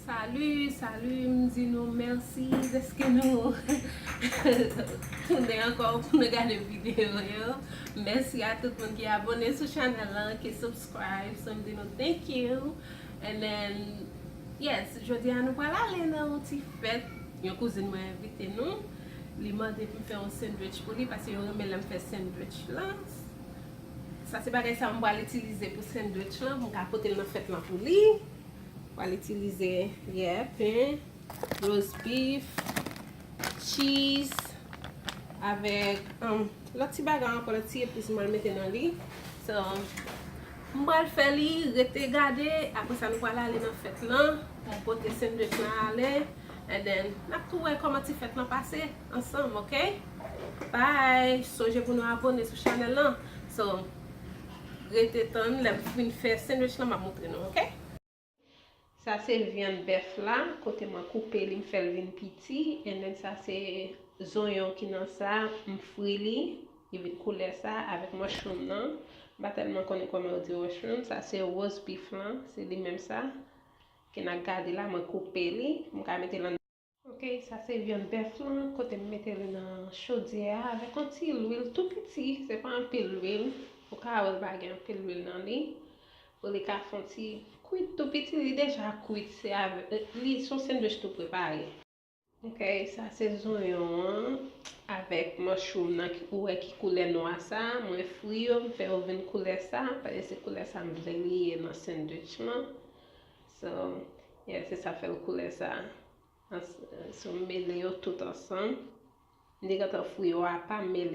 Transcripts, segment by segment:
Salut salut m di nou mèsi deske nou tounen ankò pou nou gade video yo mèsi a tout moun ki abone sou chanèl lan ki subscribe so m di nou thank you and then yes jodi a nou pral ale nan yon ti fèt yon kouzin mwen envite nou Li mande pou m fè yon sendwich pou li paske yo renmen lè m fè sendwich lan. Sa se bagay sa m pral itilize pou sendwich lan pou m ka pote l nan fèt lan pou li. M pral itilize ye pen, roast beef, cheese avèk lòt ti bagay ankò, lòt ti epis m pral mete nan li. So, m pral fè li, rete gade, apresa nou pral ale nan fèt lan pou m pote sendwich lan ale. and then nap tou wè kòman ti fèt lan pase ansanm ok bye sonje pou nou abone sou chanèl lan so rete tann lèm fin fè sandwich lan map moutre nou ok. Sa se vyann bèf la kote mwen koupe li m fèl vin piti and then sa se zonyon ki nan sa m fri li li vin koulè sa avèk mushroom nan m pa tèlman konnen kòman yo di mushroom sa se roast beef lan se li menm sa Ke na gade la mwen koupe li m ka mete lan. Ok sa se vyann bèf lan kote m mete li nan chodyè a avèk yon ti lwil tou piti se pa anpil lwil ou ka wèl pa gen anpil lwil nan li pou li ka fon ti kwit tou piti li deja kwit se avèk li son sendwich tou prepare. Ok sa se zonyon an avèk mòchroum nan ki ou wè ki koulè nwa sa mwen fri yo m fè yo vin koulè sa pale se koulè sa m vle li ye nan sandwich lan so yeah se sa fèl koulè sa so m mele yo tout ansanm m te gentan fri yo apa m mele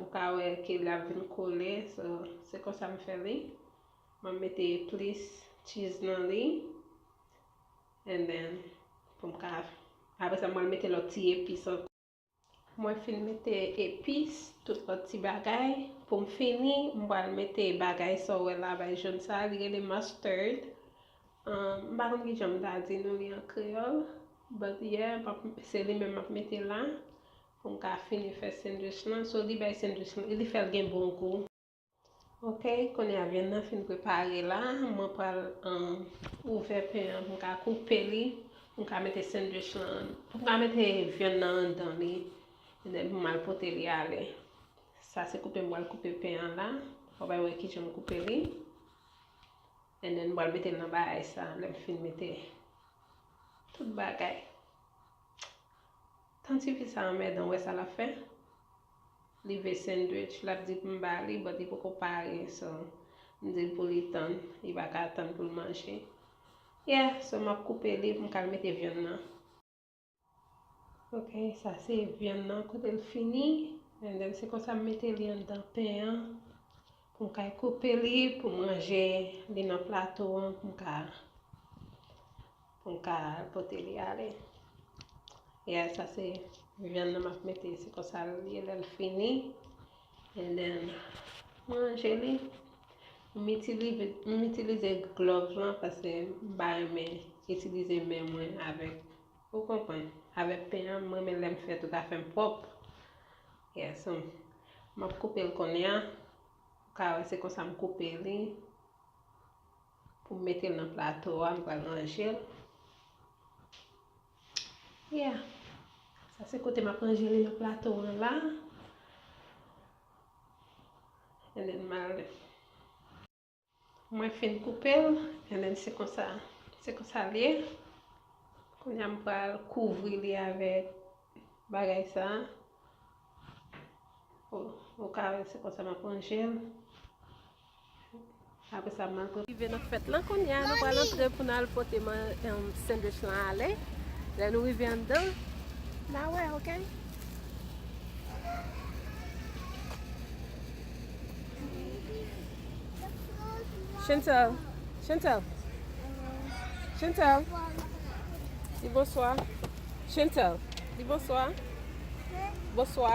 Ou ka wè ke li ap vin kole so se konsa m fè li. Mwen mete plis cheese nan li. And then pou m ka apre sa mwen mete lòt ti epis ankò. Mwen fin mete epis, tout lòt ti bagay. Pou m fini, m pral mete bagay sa w wè la bay jòn sa a, li rele mustard. M pa konn kijan m ta di nou li an kreyòl. But yeah, se li menm m ap mete la. Pou m ka fini fè sendwich lan. So li bay sendwich lan, li fè l gen bon gou. Ok, kounye a vyann nan fin prepare la. Mwen pral ouvè pen an pou m ka koupe li. Pou m ka mete sendwich lan. Pou m ka mete vyann nan anndan li. E dèn pou m al pote li ale. Sa se koupe m pral koupe pen an la. Ou bay wè kijan m koupe li. E dèn m pral mete l nan bagay sa. Lè m fin mete tout bagay. Tan tifi sa anmèdan ou wè sa lap fè li vle sendwich lap di poum ba li but li poko pare so mdil pou li tann li paka tann poul manje yeah so map koupe li poum kal mete vyann nan ok sa se vyann nan kotel fini and then se konsa m mete li anndan pen an poum kay koupe li poum ranje li nan plato an poum ka Pou m ka pote li ale. Yeah, sa se vyann nan m ap mete. Se konsa l ye lè l fini. And then, m ranje li. M itilize glòv lan paske m pa renmen itilize men mwen avèk, ou konprann, avèk pen an. M renmen lè m fè tout afè m pwòp. Yeah, so, m ap koupe l kounye a. Ou ka wè se konsa m koupe li. Pou m mete l nan plato a, m pral ranje l. Yeah! Sa se kote m ap ranje li nan plato an la. And then m al. Mwen fin koupe l, and then se konsa, se konsa l ye. Kounye a m pral kouvri li avèk bagay sa. Ou ka wè se konsa m ap ranje l. Apre sa mal pran. Rive nan fèt lan kounya nou pral antre pou nal pote sendwich lan ale lè nou rive anndan na wè ok. Chantel Chantel Chantel di bonswa Chantel di bonswa bonswa.